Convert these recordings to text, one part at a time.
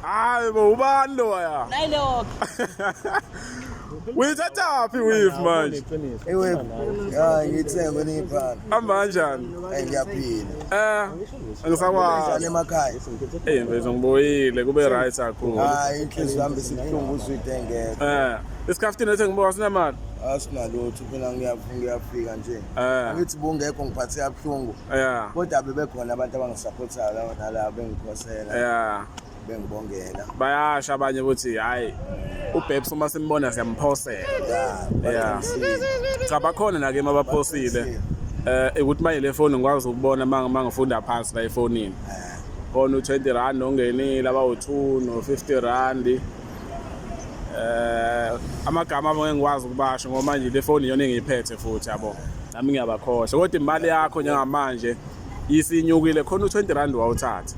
hayi bo ubani lo ya nayilokho uyithathaphi wif manje iwif hayi ngithengwe niyibhala ambanjani ngiyaphila eh angisakwazi emakhaya eh mfethu ngiboyile kube right kakhulu hayi inhliziyo yami isibuhlungu uzwide ngeke eh isikhaftini ethe ngibuka sinemali asinalutho phela ngiyafika nje Eh. angithi bungekho ngiphathe kabuhlungu Yeah. kodwa bebekhona abantu abangisapothayo lawo nalabo bengikhosela Yeah. bengibongela Bayasha abanye ukuthi hayi uBabes uma simbona siyamphosela. ya Yeah. Cha bakhona nake mabaphosile. Eh ukuthi manje le phone ngikwazi ukubona manga mangifunda phansi la efonini. Khona u20 rand ongenile abawu2 no50 rand. eh amagama abo ngengikwazi ukubasho ngoba manje le foni iyona engiyiphethe futhi yabo nami ngiyabakhohlwa kodwa imali yakho njengamanje isinyukile khona u20 rand wawuthatha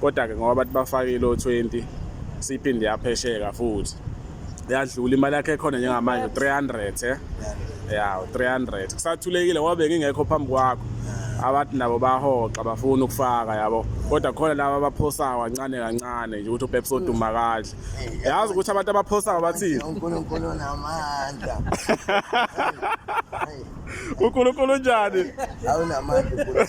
kodwa ke ngoba bathi bafakile o20 siphinde yaphesheka futhi yadlula imali yakhe khona njengamanje 300 eh ya 300 kusathulekile wabe ngingekho phambi kwakho abathi nabo bahoxa bafuna ukufaka yabo kodwa khona laba abaphosayo kancane kancane nje ukuthi upeps oduma kahle yazi ukuthi abantu abaphosta ngabathini unkulunkulu namandla unkulunkulu njani awunamandla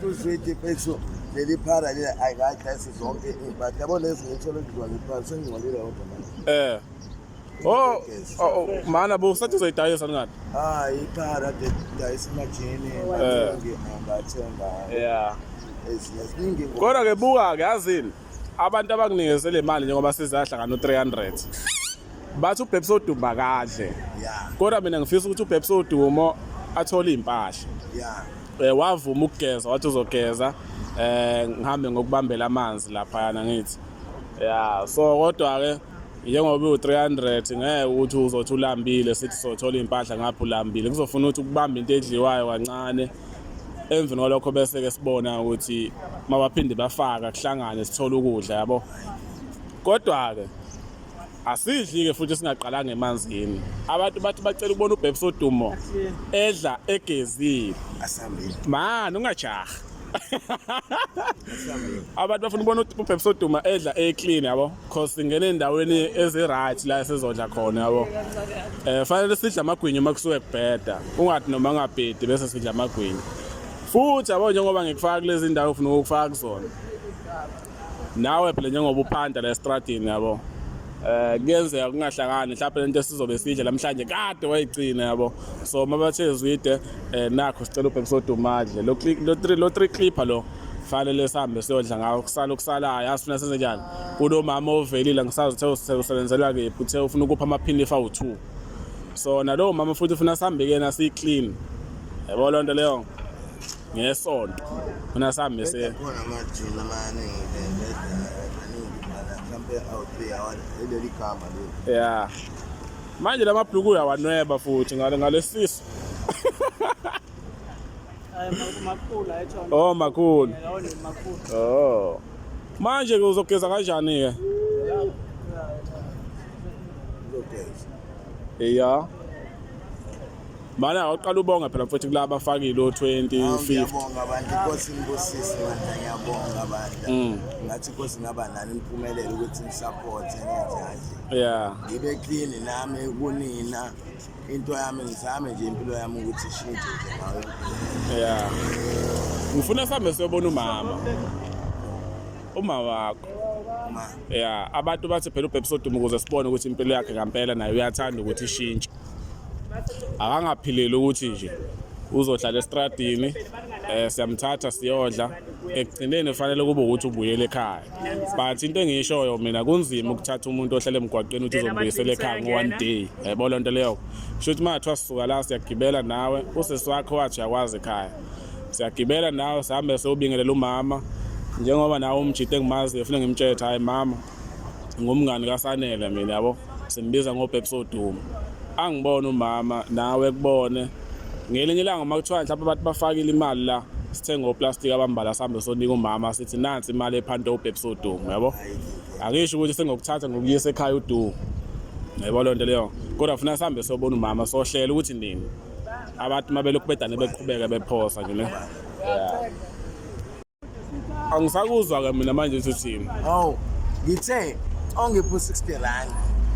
uzwidi pethu leli phara leli ayikadlasi zonke iy'mpahla yabo lezi ngithole kuzwa ngiphansi engingcolile kodwa manje um Oh, oh, oh mana bo sathi uzoyidayisa ngani? Ah, iphara de dayisa majini eh. ngingathenga. Yeah. Eziningi. Kodwa ke buka ke yazini abantu abanginikeze le mali njengoba sizahlangana no 300. Bathi uBhebs odumba kahle. Yeah. Kodwa mina ngifisa ukuthi uBhebs odumo athole impahla. Yeah. Eh wavuma ukugeza wathi uzogeza eh ngihambe ngokubambela amanzi lapha yana ngithi. Yeah, so kodwa ke njengoba iwu-300 ngeke ukuthi uzothi ulambile sithi sothola iy'mpahla ngapha ulambile kuzofuna ukuthi ukubambe into edliwayo kancane emveni kwalokho bese-ke sibona ukuthi mabaphinde bafaka kuhlangane sithole ukudla yabo kodwa-ke asidli-ke futhi singaqalanga emanzini abantu bathi bacela ukubona ubhebisa odumo edla egezile mani ungajaha abantu bafuna ukubona ubhebisa oduma edla eclean yabo cause singena endaweni ezi-right la esizodla khona yabo um fanele sidla amagwinya uma kusuke kubheda ungathi noma ngabhedi bese sidla amagwinya futhi yabo njengoba ngikufaka kulezi ndawo ufuna ukufaka kuzona nawe phela njengoba uphanda la estradini yabo eh kuyenzeka kungahlangani mhlawumbe lento esizobe sidle namhlanje kade wayigcina yabo so mabathe zwide eh nakho sicela ubhekisa udumadle lo lo 3 clipper lo fanele sihambe siyodla ngawo kusala okusalayo asifuna senze njani kunomama ovelile ngisazi uthe usebenzela kephi uthe ufuna ukupha amaphini awu-two so nalowo mama futhi ufuna sihambe kuyena siyi-clean yabo loo nto leyo ngesonto funa sihambe se ya manje la mabhluku uyawanweba futhi ngalesiso Oh makhulu. Oh. Manje ke uzogeza kanjani ke? Yeah. Mana awuqala ubonga phela mfowethu kulaba afakile o20 50. Ngiyabonga abantu inkosi ngibusise bandla ngiyabonga bandla. Mm. Ngathi inkosi ngaba nani imphumelelo ukuthi ngisupport ngenze kanje. Yeah. Ngibe clean nami kunina. into yami ngizame nje impilo yami ukuthi ishintshe nje ngayo yeah ngifuna sambe siyobona umama uma wakho yeah abantu bathi phela ubhebisa udumo ukuze sibone ukuthi impilo yakhe ngempela naye uyathanda ukuthi ishintshe akangaphileli ukuthi nje uzohlala estradini eh siyamthatha siyodla ekugcineni kufanele kube ukuthi ubuyele ekhaya but into engiyishoyo mina kunzima ukuthatha umuntu ohlele emgwaqeni ukuthi uzombuyisela ekhaya ngo-one day yabo loo nto leyo kusho ukuthi uma kuthiwa sisuka la siyagibela nawe usisi wakho wathi uyakwazi ekhaya siyagibela nawe sihambe sewubingelela umama njengoba nawe umjide engimaziyo funa ngimtshethe hhayi mama ngumngani kasanele mina yabo Simbiza ngobhebs odumo. Angibone umama nawe kubone. Ngelinye ilanga uma kuthiwa mhlawumbe abantu bafakile imali la sithenga oplastic abambala sihambe sonika umama sithi nansi imali ephanthe ubhebs odumo yabo. Akisho ukuthi sengokuthatha ngokuyisa ekhaya udumo. Yebo lento leyo. Kodwa funa sihambe sobona umama sohlela ukuthi nini. Abantu mabelokhu bedane beqhubeka bephosa nje ne. Yeah. angisakuzwa ke mina manje ukuthi uthini oh ngithe ongiphu 60 rand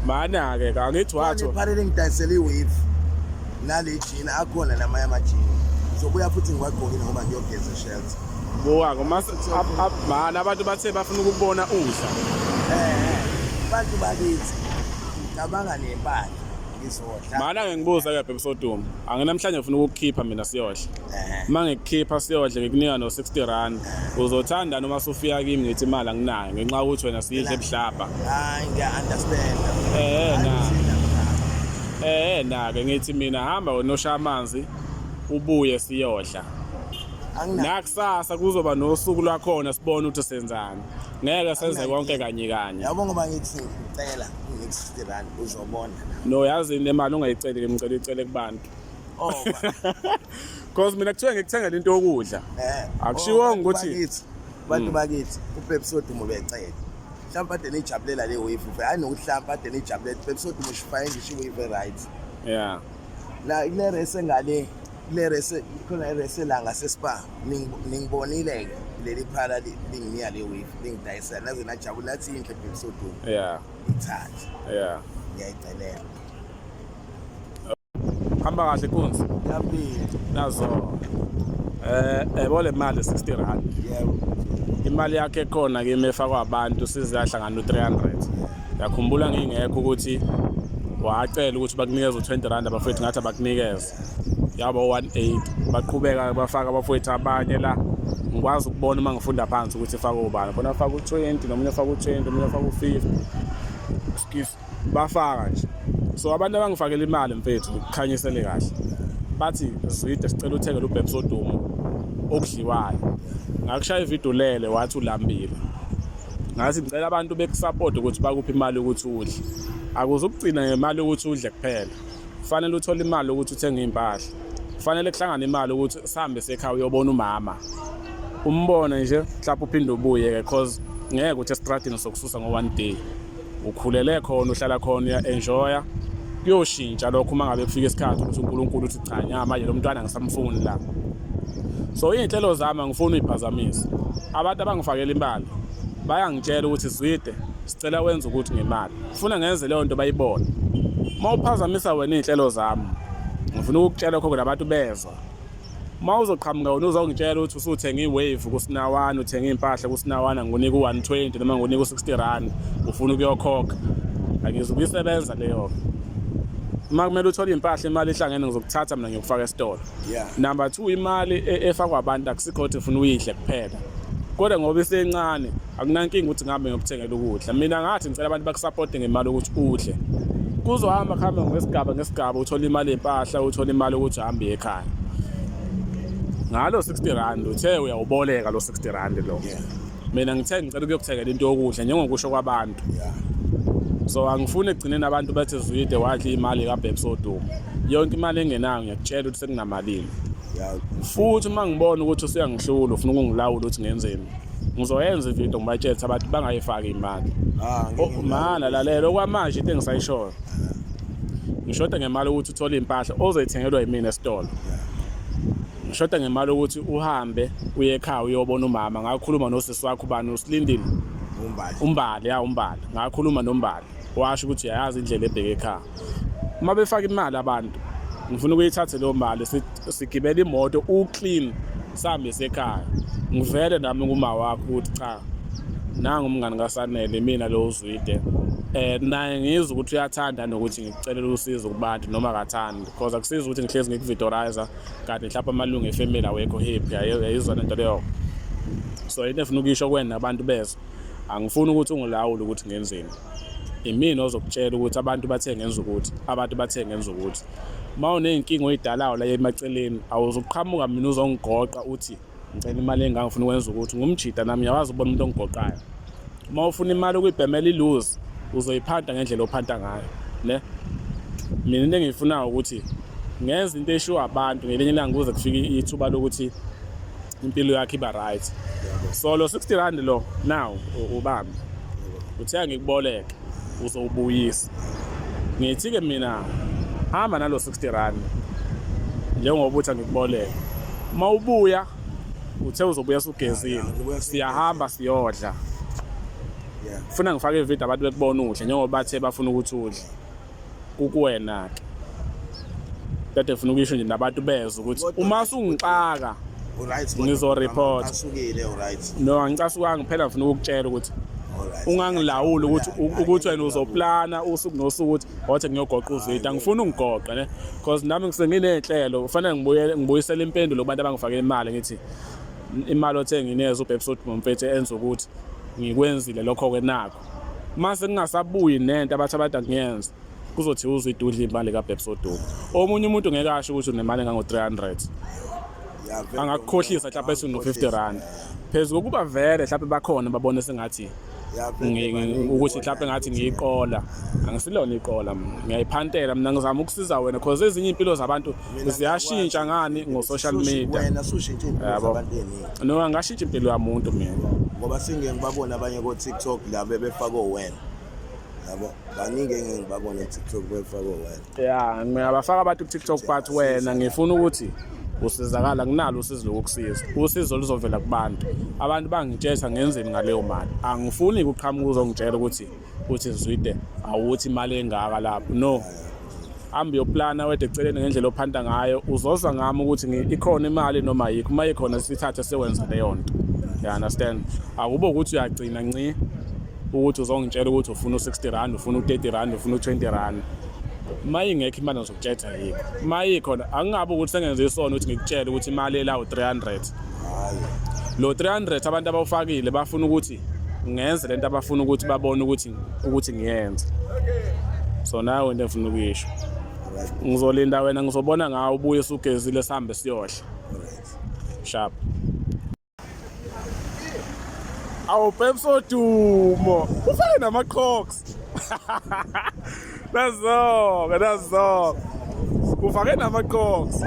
mana ke angithi watho ngiphalele ngidayisele iwave nale jini akhona namanye amajini ngizobuya futhi ngiwagqokile ngoba ngiyogeza ishells buka ngomana abantu bathe bafuna ukubona udla eh abantu bakithi ngicabanga nempahla ngizodla mana ke ngibuza ke bhebisoduma anginamhlanje ngifuna ukukhipha mina siyodla uma ngikukhipha siyodle ngikunika no-60 rand uzothanda noma sufika kimi ngithi imali anginayo ngenxa yokuthi wena siyidle ebuhlabha hayi ngiya-understand eh na eh na-ke ngithi mina hamba wena oshaya amanzi ubuye siyodla nakusasa kuzoba nosuku lwakhona sibone ukuthi senzani ngeke senze konke kanye kanye yabo ngoba ngithi ngicela ngi-60 rand uzobona no yazi nemali ungayiceli ke ngicela icele kubantu Oh. Cause mina kuthiwa ngikuthengela into yokudla. Eh. Akushiwonga oh, ukuthi bakithi. Bantu hmm. bakithi uPepsi odumo becela. Mhlawumbe ade nijabulela le wave. Hayi nokuhlamba ade nijabulela uPepsi odumo shifaye ngisho wave right. Yeah. La ile race ngale le race khona race la ngase spa ningibonile ke leli phala lingiya le wave lingidayisa naze najabula nathi inhle Pepsi odumo. Yeah. Ithathe. Yeah. Ngiyayicelela. hamba kahle kunzi yampilo nazo eh yabo le mali 60 rand yebo imali yakhe ekhona kimi efakwa abantu siziyahlangana u300 yakhumbula ngingekho ukuthi wacela ukuthi bakunikeze u20 rand abafethu ngathi abakunikeze yaba 180 baqhubeka bafaka abafethu abanye la ngikwazi ukubona uma ngifunda phansi ukuthi ifaka ubani khona afaka u20 nomunye afaka u20 omunye afaka u50 excuse bafaka nje so abantu abangifakela imali mfethu kukhanyisele kahle bathi zwide sicela uthengele ubhebs odumo okudliwayo ngakushaya ividiyo lele wathi ulambile ngathi ngicela abantu bekusapota ukuthi bakuphi imali ukuthi udle akuze ukugcina ngemali ukuthi udle kuphela kufanele uthole imali ukuthi uthenge iy'mpahla kufanele kuhlangane imali ukuthi sihambe sekhaya uyobona umama umbone nje mhlawumbe uphinde ubuye-ke cause ngeke ukuthi esitradini sokususa ngo-one day ukhulele khona uhlala khona uya-enjoya kuyoshintsha lokho uma ngabe kufika isikhathi ukuthi unkulunkulu uthi cha nya manje lo mntwana ngisamfuni la so iy'nhlelo zami angifuni uyiphazamise abantu abangifakela imali bayangitshela ukuthi zwide sicela wenza ukuthi ngemali funa ngenze leyo nto bayibone uma uphazamisa wena iy'nhlelo zami ngifuna ukukutshela khokho nabantu bezwa uma uzoqhamuka wena uzongitshela ukuthi usuthenga i-wave kusinawana uthenga iy'mpahla kusinawana ngikunike u-one twenty noma ngikunike u-sixty rand ufuna ukuyokhokha angizukuyisebenza leyo uma kumele uthole iy'mpahla imali ihlangene ngizokuthatha mina ngiyokufaka esitolo number two imali e-, efakwa abantu akusikho ukuthi ufuna uyidle kuphela kodwa ngoba isencane akunankinga ukuthi ngihambe ngiyokuthengela ukudla mina ngathi ngicela abantu bakusapote ngemali ukuthi udle kuzohamba kuhambe ngesigaba ngesigaba uthole imali yempahla uthole imali ukuthi uhambe ekhaya ngalo 60 rand uthe uyawuboleka lo 60 rand lo mina ngithe ngicela ukuyokuthengela into yokudla njengokusho kwabantu so angifuni egcineni abantu bethi zwide wadla imali kabhebs oduma yonke imali engenayo ngiyakutshela ukuthi sekunamalini futhi uma ngibona ukuthi usuyangihlula ufuna ukungilawula ukuthi ngenzeni ngizoyenza ividiyo ngibatshele abantu bangayifaki imali ah, mana lalela okwamanje into engisayishoyo ngishoda ngemali ukuthi uthole iy'mpahla ozoyithengelwa yimina esitolo ngishoda ngemali ukuthi uhambe uye ekhaya uyobona umama ngakhuluma nosisi wakho ubani usilindile umbali ya umbali ngakhuluma nombali washo ukuthi uyayazi indlela ebheke ekhaya uma befaka imali abantu ngifuna ukuyithathe leyo mali sigibele imoto uclean sihambe sekhaya ngivele nami kuma wakho ukuthi cha nangu umngani kasanele mina lo uzwide eh naye ngizwe ukuthi uyathanda nokuthi ngikucelela usizo kubantu noma akathandi because akusiza ukuthi ngihlezi ngikuvidorizer kanti mhlawumbe amalungu efamily awekho happy ayizona into leyo so into efuna ukuyisho kwena abantu bezwe Angifuni ukuthi ungilawule ukuthi ngenzeni. Imina ozokutshela ukuthi abantu bathe ngenza ukuthi, abantu bathe ngenza ukuthi. Uma uney'nkinga oyidalayo la emaceleni, awuzuqhamuka mina uzongigoqa uthi ngicela imali engaka ngifuna ukwenza ukuthi. Ngumjita nami ngiyawazi ukubona umuntu ongigoqayo. Uma ufuna imali ukuyibhemela iluzi, uzoyiphanta ngendlela ophanta ngayo ne. Mina into engiyifunayo ukuthi ngenze into eshiwo abantu ngelinye ilanga kuze kufike ithuba lokuthi impilo yakhe iba right so lo 60 rand lo now ubambi uthenga ngikuboleke uzowubuyisa ngithi-ke mina hamba nalo 60 rand njengoba uthi angikuboleke uma ubuya uthe uzobuya sugezile siyahamba siyodla funa ngifake ividiyo abantu bekubona udle njengoba bathe bafuna ukuthi udle kukuwena ke kade funa ukuyisho nje nabantu bezwe ukuthi uma sungixaka ngizoreport no angicasukanga phela ngifuna ukukutshela ukuthi ungangilawuli ukuthi ukuthi wena uzoplana usuku nosuku ukuthi wathi ngiyogoqa uzwidi angifuni ungigoqe ne because nami ngisenginey'nhlelo kufanele ngibuyele ngibuyisele impendulo kubantu abangifake imali ngithi imali othe ngineza ubhebisodimo mfethu enza ukuthi ngikwenzile lokho-ke nakho uma sekungasabuyi nento abathi abantu akuyenza kuzothi uzwe idudla imali kabhebsoduku omunye umuntu ngeke asho ukuthi unemali engango-300 angakukhohlisa mhlawumpe ethi uno-50 rand phezu kokuba vele mhlawumpe bakhona babone sengathi ukuthi mhlawumpe ngathi ngiyiqola angisilona iqola mina ngiyayiphantela mina ngizama ukusiza wena cause ezinye iy'mpilo zabantu ziyashintsha ngani ngo-social media wena sushintshe impilo Yabo. zabantu eningi no angashintsha impilo yamuntu mina ngoba singeke ngibabone abanye ko-tiktok la bebefake owena yabo baningi engeke ngibabone ku-tiktok bebefake owena ya ngiyabafaka abantu kutiktok but wena ngifuna ukuthi usizakala nginalo usizo lokukusiza usizo luzovela kubantu abantu bangitshesa ngenzeni ngaleyo mali angifuni kuqhamuka uzongitshela ukuthi uthi Zwide awuthi imali engaka lapho no hambe uyoplana wethu eceleni ngendlela ophanta ngayo uzoza ngami ukuthi ikhona imali noma yikho uma ikhona sithathe sewenza leyo nto you understand akube ukuthi uyagcina nci ukuthi uzongitshela ukuthi ufuna u-60 rand ufuna u-30 rand ufuna u-20 rand uma ingekho imali ngizokutshela yikho uma ikhona angingabe ukuthi sengenze isona ukuthi ngikutshele ukuthi imali elawu-300 lo 300 abantu abawufakile bafuna ukuthi ngenze lento abafuna ukuthi babone ukuthi ukuthi ngiyenze so nayo into engifuna ukuyisho ngizolinda wena ngizobona ngawo ubuye usugezile sihambe siyohle sharp awu pepsi odumo ufake namaqhoks Nazoke, nazoke. Ufake namaqoks.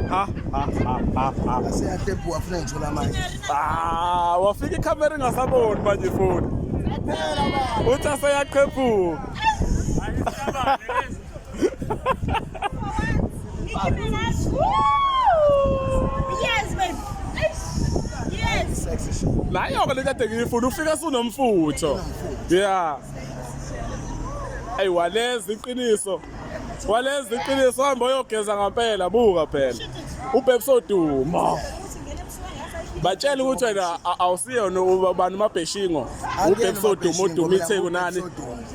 Ha ha ha ha ha. Asiyatephu wafuna ngithola manje. Ah, wafika ikhamera ingasaboni manje futhi. Phela baba. Uthi aseyaqhephuka. Yes, babe. Yes. Nayo-ke le kade ngiyifuna ufika sunomfutho. Yeah. Hey waleza iqiniso. Waleza iqiniso hamba uyogeza ngampela buka phela. Ubhebs oduma. Batshela ukuthi wena awusiyona ubani umabheshingo. Ubhebs oduma oduma itheku nani?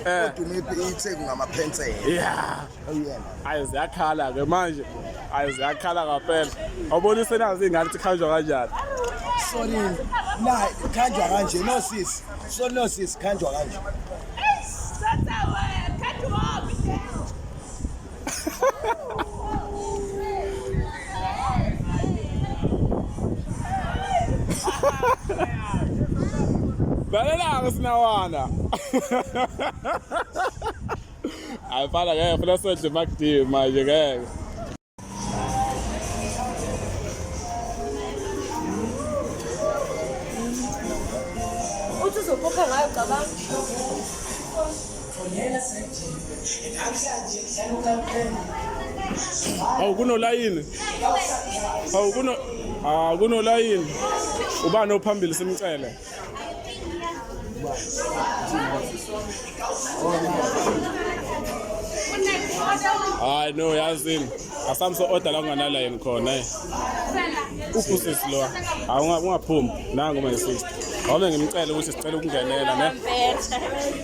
Eh. Oduma itheku ngamaphensela. Yeah. ayi ziyakhala ke manje ayi ziyakhala ngampela awubona isenazi ingane ukuthi khanjwa kanjani sorry na khanjwa kanje no sis so no sis khanjwa kanje Balelanga sinawana. Hayi fana ngeke funa sedle makudini manje ngeke. Uthi uzokhokha ngayo cabanga. Awu kunolayini. Awu kuno ah kunolayini. Ubani ophambili simcele. hayi no yazini asamso order la kunganalayini khona eh. uphusisi lowa awungaphumi nangu my sister wame ngimcele ukuthi sicela ukungenela ne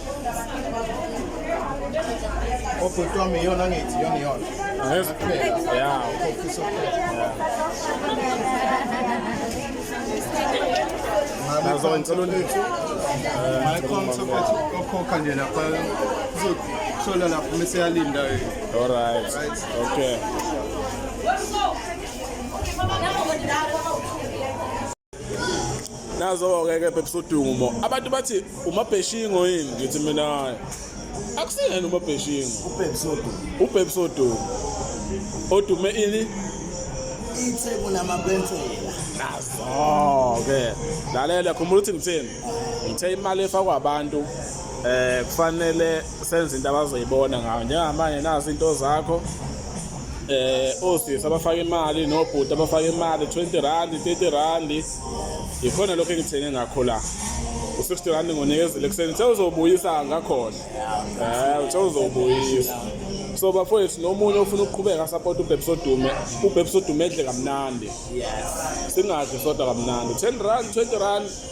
Obhuti wami iyona ngithi iyona iyona. Yeah. Nazo insolo lethu. My contact okhokha nje lapha uzothola lapho mase yalinda yini. All right. Okay. nazo-ke ke phephisodumo abantu bathi umabheshingo yini ngithi mina akusiyena umabheshingo ubhephisodumo odume ini itheku namabensela nazo-ke lalela khumbula ukuthi ngithini ngithe imali efakwa abantu eh kufanele senze into abazoyibona ngayo njengamanje nazi into zakho eh osisi abafaka imali nobhuti abafaka imali 20 rand 30 rand ikhona lokho engithenge ngakho la u60 rand ngonikezele kuseni sewuzobuyisa ngakhona eh usewuzobuyisa so bafowethu nomunye ofuna ukuqhubeka support ubhebsodume ubhebsodume edle kamnandi yes singadli sodwa kamnandi 10 rand 20 rand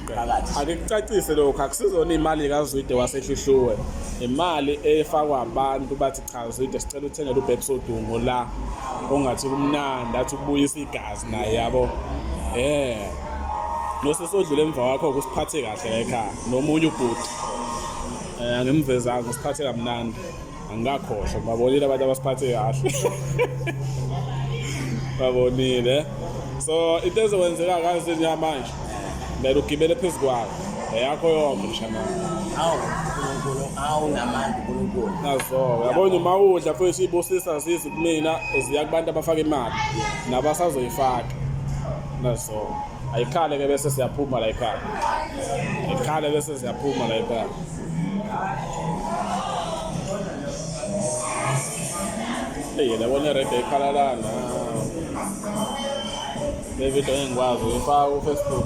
phakathi akikucacise lokho akusizona imali kaZwide wasehlihluwe imali efakwa abantu bathi cha Zwide sicela uthengele uBabes Odungo la ongathi kumnandi athi ubuyisa igazi naye yabo eh nosesodlule emva wakho ukusiphathe kahle ekhaya nomunye ubhuti eh angimvezanga usiphathe kamnandi angikakhohlwa babonile abantu abasiphathe kahle babonile so into ezokwenzeka kazi njengamanje kumele ugibele phezu kwayo eyakho yonke mshanami awu uNkulunkulu awu namandla uNkulunkulu nazo yabona uma udla futhi ibusisa zizi kumina ziya kubantu abafaka imali nabasazoyifaka nazo ayikhale ke bese siyaphuma la ikhaya ikhale bese siyaphuma la ikhaya Eyi labo nerede ekhalalana. Le video engikwazi uyifaka ku-Facebook.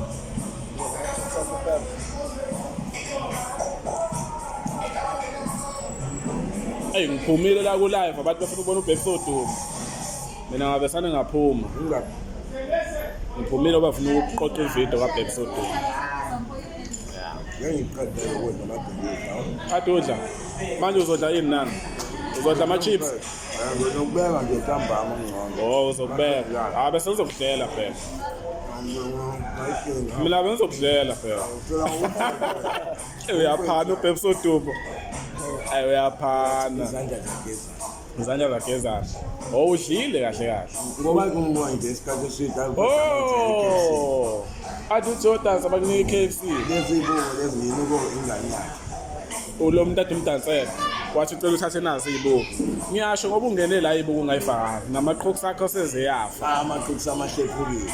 Eyi ngiphumile la ku-live abantu bafuna ukubona ubhekisoduma. Mina ngabesane ngaphuma. Ngiphumile bafuna ukuqoqa ividiyo kabhekisoduma. kade udla manje uzodla ini nani uzodla ama-chips ngizokubeka nje ntambama ngcono o uzokubeka ha bese ngizokudlela phela mina bengizokudlela phela uyaphana ubhebisa udubo ayi uyaphana izandla zigeza Ngizanya zagezana. Oh udlile kahle kahle. Ngoba kungibona nje isikhathi eside. Oh. Athi uJordan sabakunika iKFC. Lezi ibuko lezi yini ubuko ingane yakhe. Ulo muntu athi umdansela. Wathi ucela uthathe nazo izibuko. Ngiyasho ngoba ungene la izibuko ungayifaka. Namaqhuku sakho sezeyafa. Amaqhuku samahlephukile.